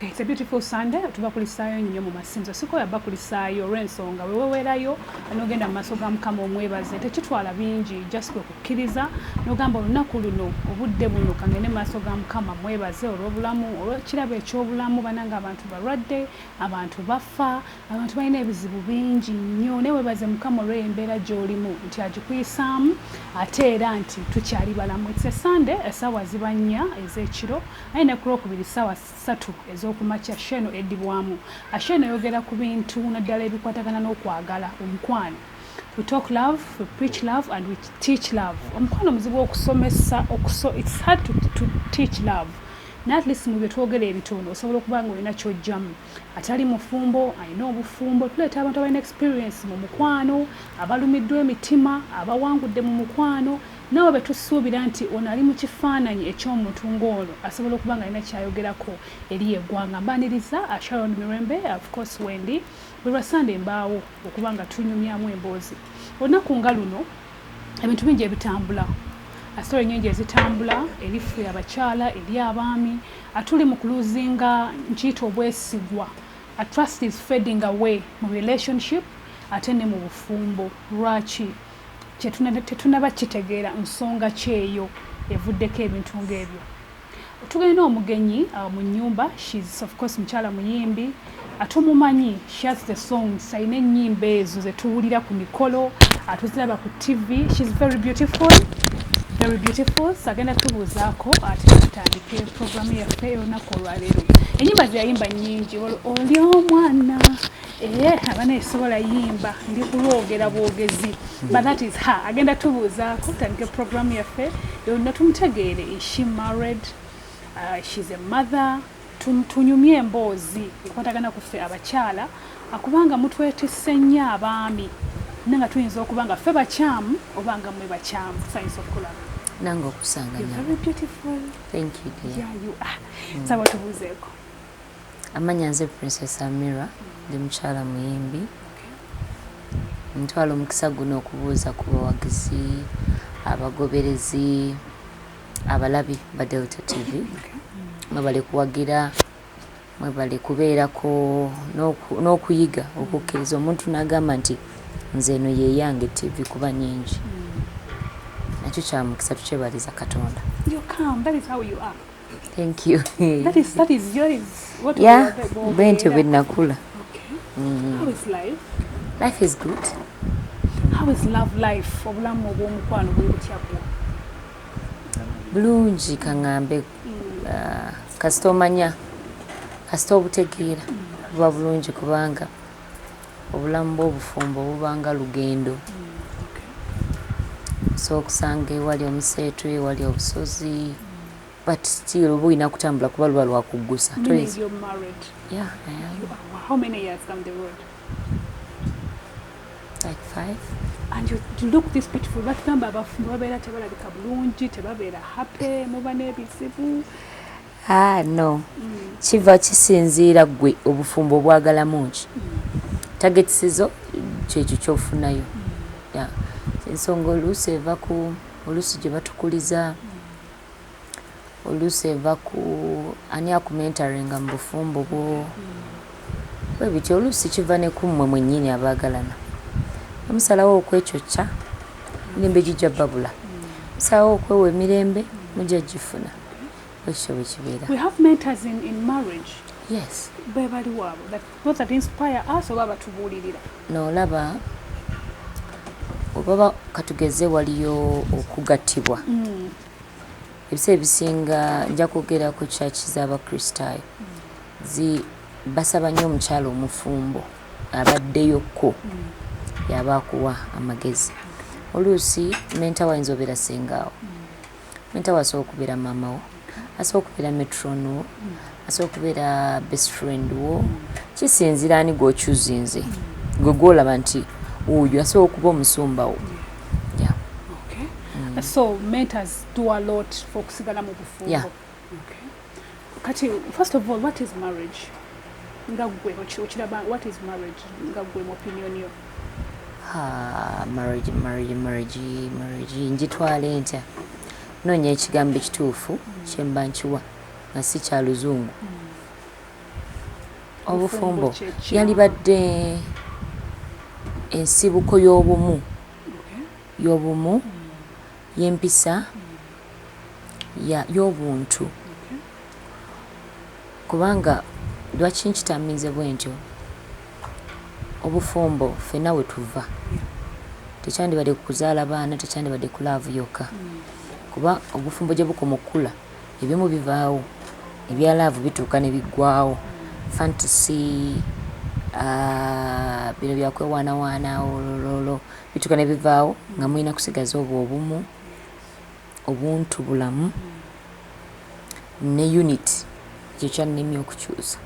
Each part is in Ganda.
It's a beautiful Sunday. Tubakulisaayo nnyo mu masinzo. Sikoya bakulisaayo olw'ensonga weweweerayo n'ogenda mu maaso ga Mukama omwebaze. Tekitwala bingi just kwe kukkiriza n'ogamba olunaku luno obudde buno kangende mu maaso ga Mukama mwebaze olw'obulamu olw'ekirabo eky'obulamu bananga abantu balwadde abantu bafa Abantu balina ebizibu bingi nnyo naye webaze mukama olweyo embeera gyolimu nti agikuyisaamu ate era nti tukyali balamu its a sunday esaawa ziba nnya ezekiro naye ne kulwokubiri saawa satu ezokumakya sho eno edibwamu asho eno eyogera ku bintu naddala ebikwatagana n'okwagala omukwano we talk love we preach love and we teach love omukwano muzibu okusomesa okuso its hard to, to teach love naye at least mu byetwogera ebitono osobola okuba nga olina kyojjamu atali mufumbo alina obufumbo tuleeta abantu abalina experience mu mukwano abalumiddwa emitima abawangudde mu mukwano nabo betusuubira nti ono ali mu kifaananyi eky'omuntu ng'ono asobola okuba nga alina kyayogerako eri eggwanga mbaniriza uh, sharon mirembe uh, of course wendi bwe lwasande embaawo okuba nga tunyumyamu emboozi olunaku nga luno ebintu bingi ebitambula asitore nyingi ezitambula eri ffe abakyala eri abaami atuli mu kuluzinga nkiyita obwesigwa atrust is fading away mu relationship ate ne mu bufumbo lwaki tetunaba kitegeera nsonga kyeyo evuddeko ebintu ngaebyo Tugenda omugenyi uh, mu nyumba she's of course mukyala muyimbi atumumanyi she has the songs alina ennyimba ezo zetuwulira ku mikolo atuziraba ku tv she's very beautiful very beautiful sagenda tubuuzaako ate tutandike programu yaffe olunaku olwaleero enyimba zeyayimba nyingi oli omwana Eh, abana esobola yimba ndi kulwogera bwogezi but that is her agenda tubuuzaako tandike program yaffe yonna tumutegeere is she married uh, she's a mother tunyumye emboozi ekwatagana kuffe abakyala akubanga mutwetisse nnyo abaami na nga tuyinza okuba nga ffe bakyamu oba nga mwe bakyamu sayinza okukulaba nange okusanga nyo thank you dear yeah, you are mm. saba tubuuzeeko Amanya nze princess Amira ndi mukyala muyimbi ntwala omukisa guno okubuuza ku bawagizi abagoberezi abalabi ba Delta TV mwebale kuwagira mwebale kubeerako n'okuyiga okukkiriza omuntu n'agamba nti nze eno yeyange TV kuba nyingi nakyo kyamukisa tukyebaliza Katonda. Thank you. that is that is yours. What yeah, bwentyo bwe nakula. Okay. Mm. How is life? Life is good. How is love life? Obulamu obw'omukwano bwe butya bwo? Bulungi kang'ambe mm. ah, kasita omanya kasita obutegeera mm. buba bulungi kubanga Obulamu bw'obufumbo buba nga lugendo. Osobola okusanga ewali omuseetwe, ewali obusozi but still oba olina kutambula kuba luba lwakuggusa batugamba abafumbo babeera tebalabika bulungi tebabeera happy muba n'ebizibu Ah, no kiva kisinziira gwe obufumbo obwagalamu ki tagetisezo kyekyo kyofunayo ensonga oluusi eva ku oluusi gye batukuliza oluusi eva ku ani akumentaringa mu bufumbo bwo bwe bityo oluusi kiva ne kummwe mwennyini abaagalana omusalawo okwekyokya mirembe gijja babula musalawo okwewa emirembe mujja gifuna ekyo bwe kibeera we have mentors in, in marriage yes be bali wabo that those that inspire us oba batubuulirira no laba obaba katugeze waliyo okugattibwa mm. ebiseera ebisinga nja kwogera ku kyaki z'abakristaayo zi basaba nnyo omukyalo omufumbo abaddeyokko yaba akuwa amagezi oluusi menta wayinza obeera sengaawo Anita wasobola okubeera maama wo asobola okubeera metron wo asobola okubeera best friend wo kisinzira ani gwokyuzinze gwe gwolaba nti oyo asobola okuba omusumba wo so mentors do a lot for okusigala mu bufumbo yeah. kati first of all what is marriage nga gwe okiraba what is marriage nga gwe mu opinion yo marriage marriage marriage marriage njitwala entya noonya ekigambo ekituufu kyemba nkiwa nga si kya luzungu hmm. obufumbo yalibadde ensibuko y'obumu y'obumu hmm. y'empisa ya y'obuntu kubanga lwaki nkitambinze bwentyo obufumbo ffena wetuva tekyandibadde ku kuzaala baana tekyandibadde ku laavu yokka kuba obufumbo gye bukoma okukula ebimu bivaawo ebya laavu bituuka ne biggwawo fantasy ah, bino byakwewaanawaana olololo bituka ne bivaawo nga mulina kusigaza obwo obumu obuntu bulamu ne unit ekyo kyannimi okukyusa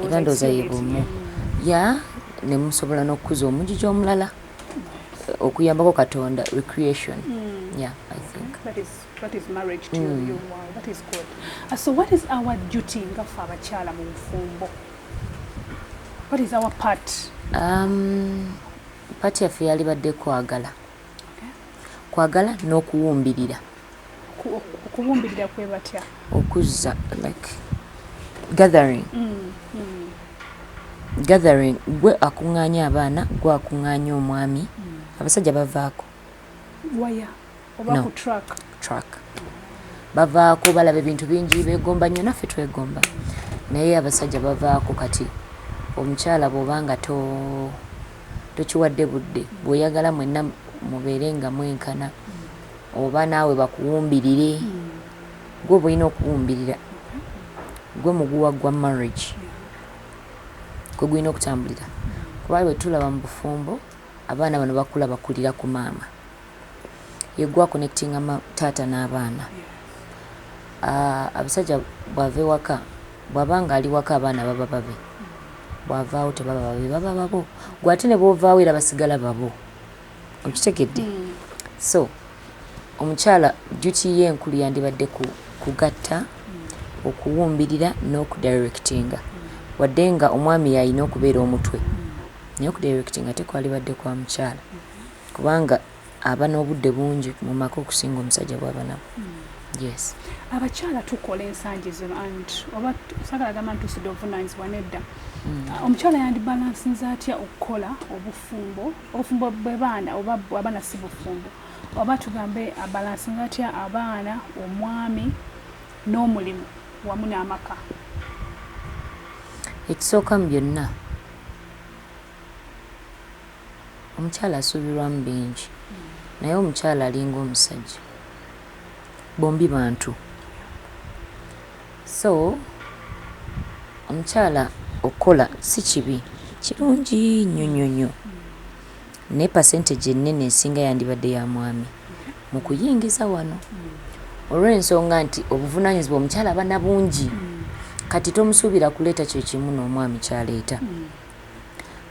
era ndooza ye bumu ya ne musobola n'okukuza omugigi omulala okuyambako katonda recreation mm. yeah, I think. That is, that is marriage to mm. you. Wow, that is good. Uh, so what is our duty nga fe abakyala mu bufumbo? What is our part? Um, Part yaffe yalibadde kwagala kwagala n'okuwumbirira. Okuwumbirira kwe batya? Okuzza like gathering mm, mm. gathering gwe akuŋŋaanya abaana gwe akuŋŋaanya omwami mm. abasajja bavaako waya oba no. ku truck truck bavaako balaba ebintu bingi begomba nnyo naffe twegomba naye abasajja bavaako kati omukyala bwoba nga to tokiwadde budde bweoyagala mwenna mubeere nga mwenkana oba naawe bakuwumbirire gwe oba olina okuwumbirira gwe muguwa gwa marriage gwe gulina okutambulira kuba bwe tulaba mu bufumbo abaana bano bakula bakulira ku maama yegwe akonectinga ma taata n'abaana uh, abasajja bwava ewaka bwaba nga ali waka abaana baba babe bwavaawo tebaba babe baba babo gwe ate ne bwovaawo era basigala babo okitegedde mm. so omukyala duty ye enkulu yandibadde ku, kugatta mm. okuwumbirira n'okudirectinga wadde nga omwami yalina okubeera omutwe naye okudirectinga tekwalibadde kwa mukyala mm. kubanga aba nobudde bungi mumaka okusinga omusajja bwaba nabwo yes abakyala tukola ensangi zino and oba sagala gamba nti tusudde obuvunanyizibwa nedda hmm. ah, omukyala yandi balansinze atya okukola obufumbo obufumbo bwebaana oba abaana si bufumbo oba tugambe abalansinze atya abaana omwami n'omulimu wamu n'amaka ekisooka mu byonna Omukyala asuubirwamu bingi naye omukyala alinga omusajja. Bombi bantu. So, omukyala okukola si kibi, kirungi nnyo nnyo nnyo. Naye percentage ennene esinga yandibadde ya mwami mu kuyingiza wano olw'ensonga nti obuvunaanyizibwa omukyala aba na bungi. Kati tomusuubira kuleeta kye kimu n'omwami ky'aleeta.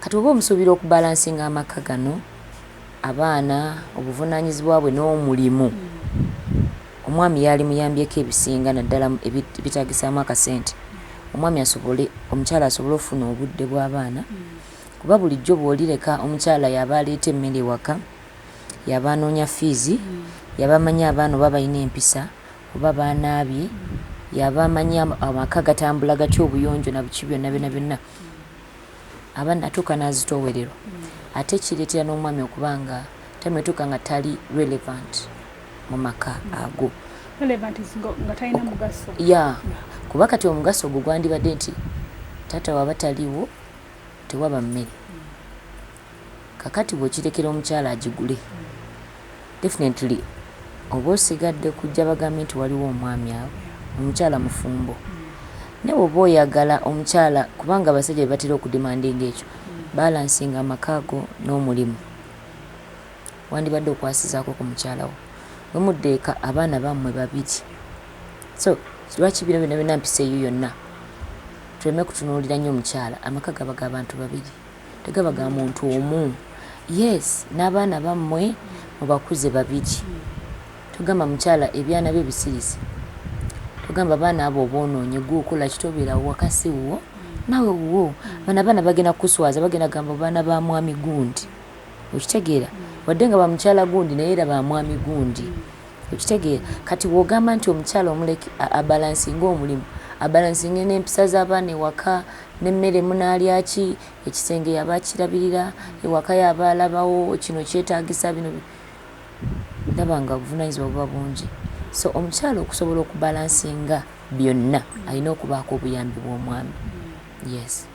Kati oba omusuubira oku balansinga amakka gano, abaana, obuvunanyizibwa bwe n'omulimu, omwami yaalimuyambyeko ebisinga naddala ebitaagisaamu akasente omwami asobole, omukyala asobole okufuna obudde bw'abaana kuba bulijjo bw'olireka omukyala y'aba aleeta emmere ewaka, y'aba anoonya fiizi, y'aba amanyi abaana oba balina empisa oba baanaabye, y'aba amanyi amaka gatambula gatya obuyonjo na biki byonna byonna byonna. aba natuuka nazitoowererwa ate kireetera n'omwami okuba nga time etuuka nga tali relevant mu maka ago ya kuba kati omugaso ogwo gwandibadde nti taata waba taliwo tewaba mmere Kakati bwokirekera omukyala agigule definitely oba osigadde kujja bagambe nti waliwo omwami awo omukyala mufumbo naye bwoba oyagala omukyala kubanga abasajja bebatera okudemandinga ekyo balansinga amaka go nomulimu wandibadde okwasizako ku mukyala wo wemudde eka abaana bamwe babiri so lwaki bino byona byona mpisa eyo yonna tuleme kutunuulira nyo omukyala amaka gaba gabantu babiri. tegaba ga muntu omu yes nabaana bamwe mubakuze babiri togamba mukyala ebyana byo bisirise togamba baana abo obononye gwe okolaki tobera waka siwuwo nawe wuwo bana abaana bagenda kukuswaza bagenda gamba baana ba mwami gundi okitegeera wadde nga bamukyala gundi naye era ba mwami gundi Okitegeera? Kati bw'ogamba nti omukyala omuleke abalansinge omulimu, abalansinge n'empisa z'abaana ewaka, n'emmere munaalya ki, ekisenge y'aba akirabirira, ewaka y'aba alabawo kino kyetaagisa bino, ndaba nga obuvunaanyizibwa buba bungi. So omukyala okusobola okubalansinga byonna alina okubaako obuyambi bw'omwami. Yes.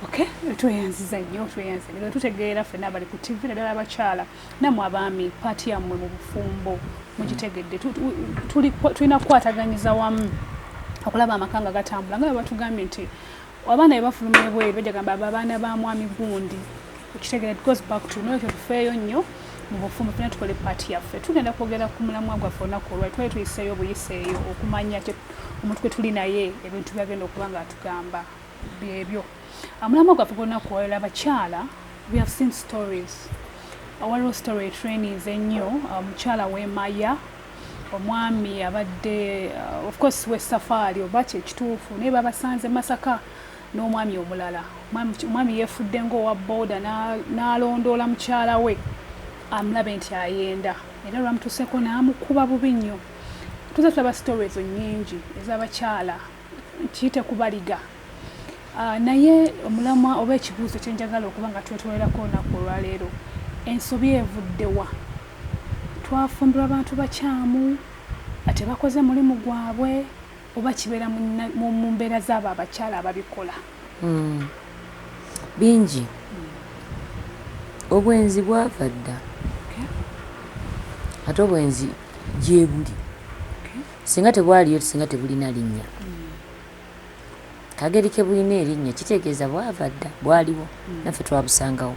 Okay, tweyanziza nnyo tweyanziza nnyo tutegeera ffena abali ku tv naddala abakyala namwe abaami paati yammwe mu bufumbo mugitegedde tulina kukwataganyiza wamu okulaba amaka nga gatambula nga batugambye nti abaana bebafuluma ebweru bajagamba ababaana ba mwami gundi okitegera goes back to nolwekyo tufeeyo nnyo mu bufumbo fena tukole paati yaffe tugenda kwogera ku mulamwa gwaffe olunaku olwali twali tuyiseeyo obuyiseeyo okumanya omuntu gwe tuli naye ebintu byagenda okuba nga atugamba byebyo amulama gwaffe gwonna kuwalala abakyala we have seen stories waliwo story trainings ennyo uh, omukyala wemaya omwami abadde uh, of course we safari oba kyekituufu naye babasanze masaka n'omwami omulala omwami yefudde ngaowa boda n'alondoola mukyala we amulabe nti ayenda era lwamutuuseko n'amukuba bubi nnyo tuza tulaba story ezo nyingi ez'abakyala kiyite kubaliga ah, naye omulamwa oba ekibuuzo kyenjagala okuba nga twetwolerako olunaku olwaleero ensobi evuddewa twafumbirwa abantu bakyamu atebakoze mulimu gwabwe oba kibeera mu mbeera zaabo abakyala ababikola hmm. bingi hmm. obwenzi bwava dda ate obwenzi gyebuli Singa tebwaliyo, singa tebulina linnya. Kageri ke bulina erinnya kitegeeza bwava dda bwaliwo naffe twabusangawo.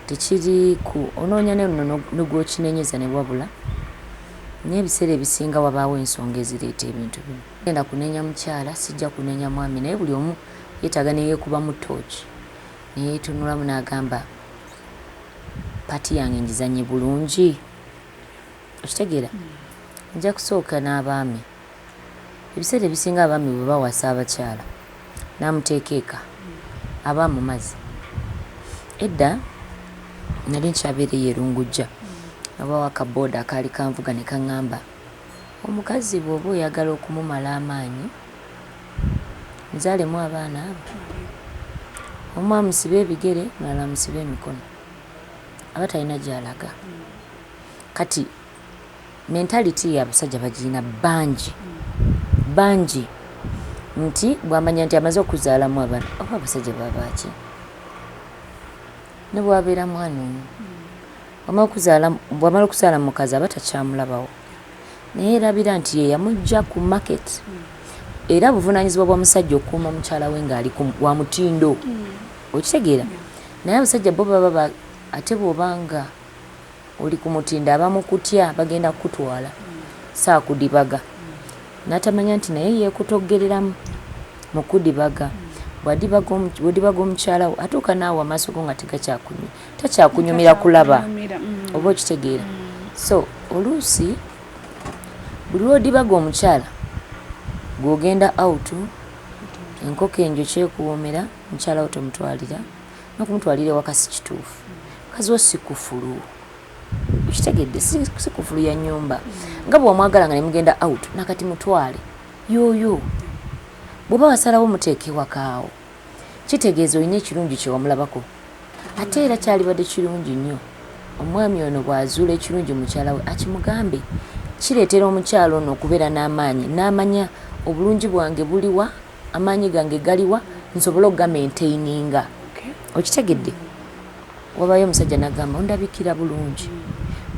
Tekiri ku onoonya ne luno ne gw'okinenyeza ne wabula naye ebiseera ebisinga wabaawo ensonga ezireeta ebintu bino. Sigenda kunenya mukyala, sijja kunenya mwami naye buli omu yeetaaga ne yeekubamu ttooci ne yeetunulamu n'agamba ppaati yange ngizannye bulungi? Okitegeera nja kusooka n'abaami ebiseera ebisinga abaami bwe bawasa abakyala n'amuteeka eka aba amumaze. Edda nali nkyabeera eyo e Lungujja ne wabaawo akabbooda akaali kanvuga ne kaŋŋamba omukazi bw'oba oyagala okumumala amaanyi muzaalemu abaana abo omu amusibe ebigere omulala amusibe emikono. aba talina gyalaga kati mentality yabasajja bagiyina bangi bangi nti bwamanya nti amaze okuzaalamu abana oba abasajja babaaki nebwabeera mwana omu bwamala okuzaala mukazi aba takyamulabawo naye erabira nti yeyamujja ku market era buvunanyizibwa bwa musajja okuuma mukyala we ngaali wa mutindo okitegeera Naye abasajja bo baba ba ate bwoba nga oli kumutindo abamu kutya bagenda kukutwala sakudibaga natamanya nti naye yekutoggereramu mukudibaga bwadibaga bwodibaga omukyala wo atuuka naawe amaaso go nga tegakyakunyuma takyakunyumira kulaba mm. oba okitegeera mm. so oluusi buli lwodibaga omukyala gwogenda out enkoko enjo kyekuwomera Mukyala wo tomutwalira nokumutwalira ewaka sikituufu mukazi wo sikufulu okitegedde sikufulu ya nyumba nga bwewamwagala nga nemugenda out nakati mutwale yoyo bwoba wasalawo muteeka ewakaawo kitegeeza olina ekirungi kyewamulabako ate era kyalibadde kirungi nnyo omwami ono bwazuula ekirungi mukyala we akimugambe kireetera omukyala ono okubeera n'amaanyi n'amanya obulungi bwange buliwa amaanyi gange galiwa nsobole okugamentaininga okitegedde wabayo omusajja nagamba ondabikira bulungi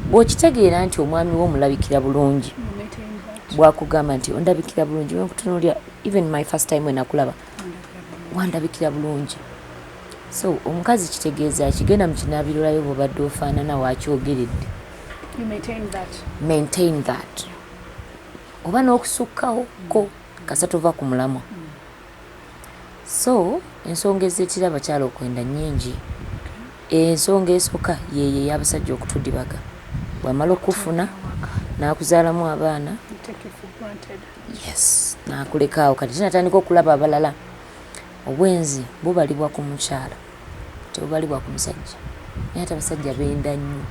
bwokitegeera nti omwami wo omulabikira bulungi bwakugamba nti ondabikira bulungi nkutunulira even my first time wenakulaba wandabikira bulungi so omukazi kitegeeza kigenda mu kinabirolayo bwobadde ofaanana wakyogeredde maintain that oba n'okusukkawo ko mm. Kasa tova ku mulamwa so ensonga eziretera abakyala okwenda nyingi ensonga esoka yeyo eyabasajja okutudibaga bwamala okufuna nakuzalamu abaana yes nakuleka awo kati tinatandika okulaba abalala obwenzi bubalibwa ku mukyala tebubalibwa ku musajja naye ate abasajja benda nnyo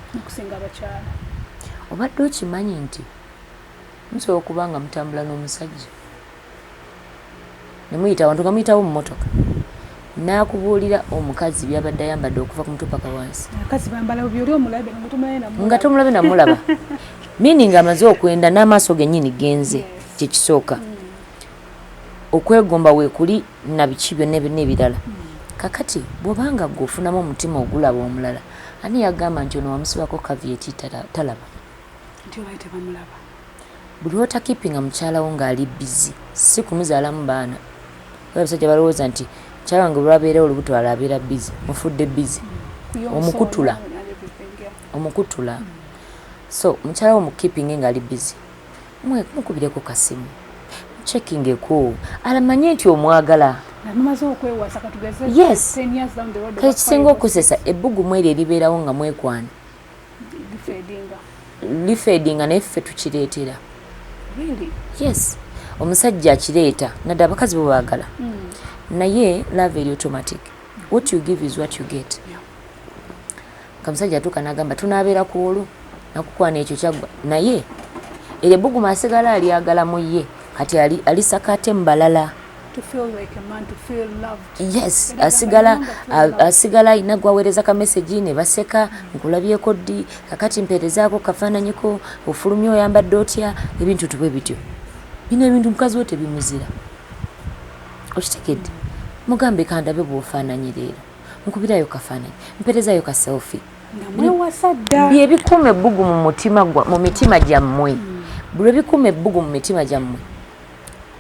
obadde okimanyi nti Musobola okuba nga mutambula n'omusajja ne muyita awantu nga muyitawo mu mmotoka n'akubuulira omukazi by'abadde ayambadde okuva ku mutwe paka wansi nga tomulabe namulaba meaning amaze okwenda n'amaaso gennyini genze kye kisooka mm. okwegomba weekuli na biki byonna n'ebirala mm. kakati bw'obanga gwe ofunamu omutima ogulaba omulala ani yagamba nti ono wamusibako kavieti talaba nti olwaye tebamulaba buli lwota keepinga mukyala wo ng'ali bizi si kumuzaalamu baana oba abasajja balowooza nti mukyala wange olwabeera olubuto ala abeera bizi mufudde bizi omukutula omukutula so mukyala wo mukeepinge ng'ali bizi mukubireko kasimu checking eko alamanye nti omwagala yes ekisinga okusesa ebbugumu eryo eribeerawo nga mwekwana lifeedinga naye ffe tukireetera yes omusajja akireeta nadde abakazi bo baagala hmm. naye love eri automatic what you give is what you get kamusajja atuuka nagamba tunaabeera ku olwo nakukwana ekyo kyaggwa naye eryebuguma asigala alyagala mu ye kati alisakate mu balala yes asigala asigala alina gwaweereza ka message ne baseka nkulabyeko ddi kakati mpeerezaako kafaananyiko ofulumya oyambadde otya ebintu tubwe bityo bino ebintu mukazi we tebimuzira okitegedde mugambe kandabe bwofaananyi leero nkubirayo kafaananyi mpeerezayo ka selfi byebikuuma ebbugu mu mitima gyammwe hmm. bwebikuuma ebbugu mu mitima gyammwe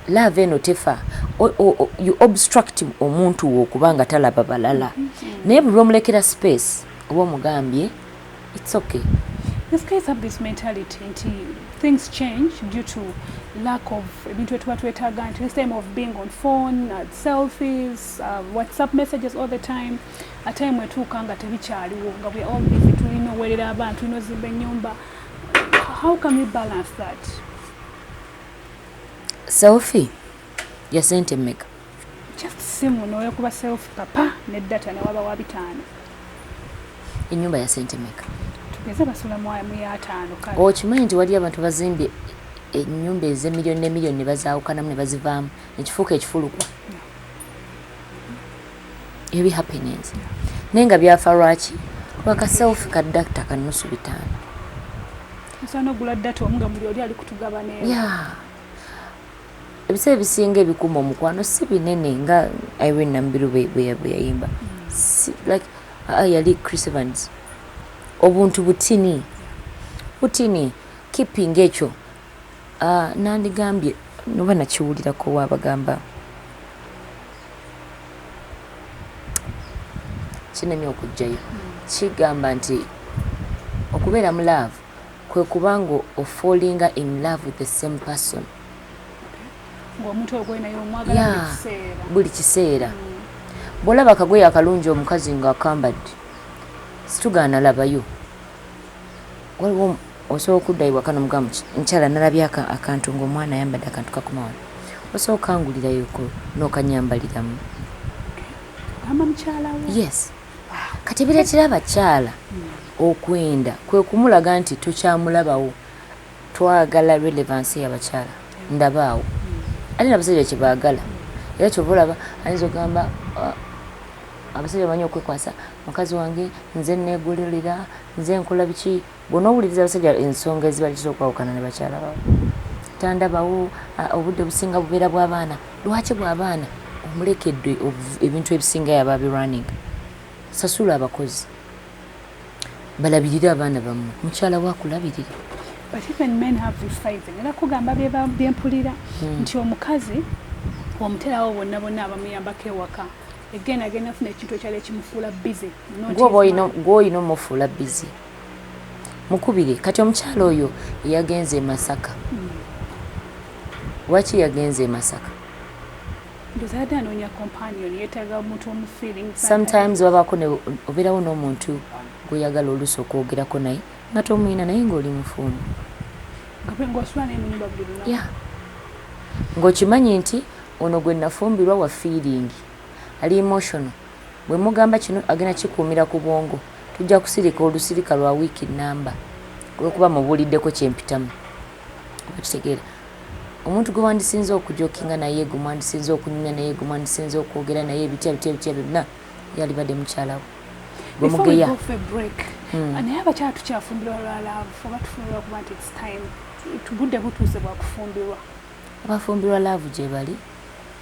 Love eno tefa you obstruct omuntu wo okuba nga talaba balala naye buli lwomulekera space oba omugambye it's okay This guys have this mentality nti things change due to lack of ebintu etuba twetaaga nti this time of being on phone uh, selfies uh, whatsapp messages all the time ate mwe tuuka nga tebikyaliwo nga we all busy tulina owerera abantu tulina ozimba ennyumba how can we balance that selfie ya sente meka just simu noyo kuba selfie papa ne data ne waba wa bitano enyumba ya sente meka tugeze basula mu mu ya tano kale okimanyi nti wali abantu bazimbye enyumba eze milioni ne milioni ne bazawukanamu ne bazivamu ekifuuka ekifulukwa ebi happenings naye nga byafa lwaki lwaka self ka dakta kanusu bitaano ebiseera ebisinga ebikuuma omukwano si binene nga irene nambiru bweyayimba like ah, yali chris evans obuntu butini butini keeping ekyo ah, nandigambye noba nakiwulirako wabagamba kinemye okujjayo kigamba nti okubeera mu love kwe kuba nga ofallinga in love with the same person buli kiseera mm. bwolaba akagoye akalungi omukazi nga akambadde situgaana labayo waliwo Osobola okudda ewaka n'omugamba nti, mukyala nnalabye akantu ng'omwana ayambadde akantu kakoma wano, osobola okukangulirayoko n'okannyambaliramu? Ogamba mukyala wo? Yes. Kati ebireetera abakyala okwenda kwe kumulaga nti tokyamulabawo, twagala relevansi y'abakyala ndabaawo ate n'abasajja kye baagala era kyova olaba ayinza okugamba ah, abasajja bamanyi okwekwasa mukazi wange nze neegololera nze nkola biki bwonowuliriza abasajja ensonga ezibaletiza okwawukana ne bakyala bawe tandabawo obudde businga bubeera bwabaana lwaki bwabaana omulekedde ebintu ebisinga yaba birunning sasula abakozi balabirire abaana bamwe mukyala wakulabirira but even men have this side ngenda kugamba byempulira hmm. nti omukazi omuterawo bonna bonna abamuyambako ewaka again agenda funa ekintu ekyali ekimufuula busy gwoba olina omufuula busy mukubire kati omukyala oyo yagenze e masaka lwaki yagenze e masaka sometimes wabaako obeerawo n'omuntu gweyagala oluusi okwogerako naye nga tomwina naye ngaoli mufumbo ng'okimanyi nti ono gwe nafumbirwa wa fiiringi ali emotional Bwe mugamba kino agenda kikuumira ku bwongo, tujja kusirika olusirika lwa wiiki nnamba olw'okuba mubuuliddeko kye mpitamu. Okitegeera. Omuntu gwe wandisinze okujokinga naye, gwe mwandisinze okunyumya naye, gwe mwandisinze okwogera naye ebitya bitya bitya byonna yalibadde mukyala we. Gwe mugeya. Hmm. Naye abakyala tukyafumbirwa lwa laavu oba tufumbirwa kuba nti it's time. Budde butuuse bwa kufumbirwa. Abafumbirwa laavu gye bali.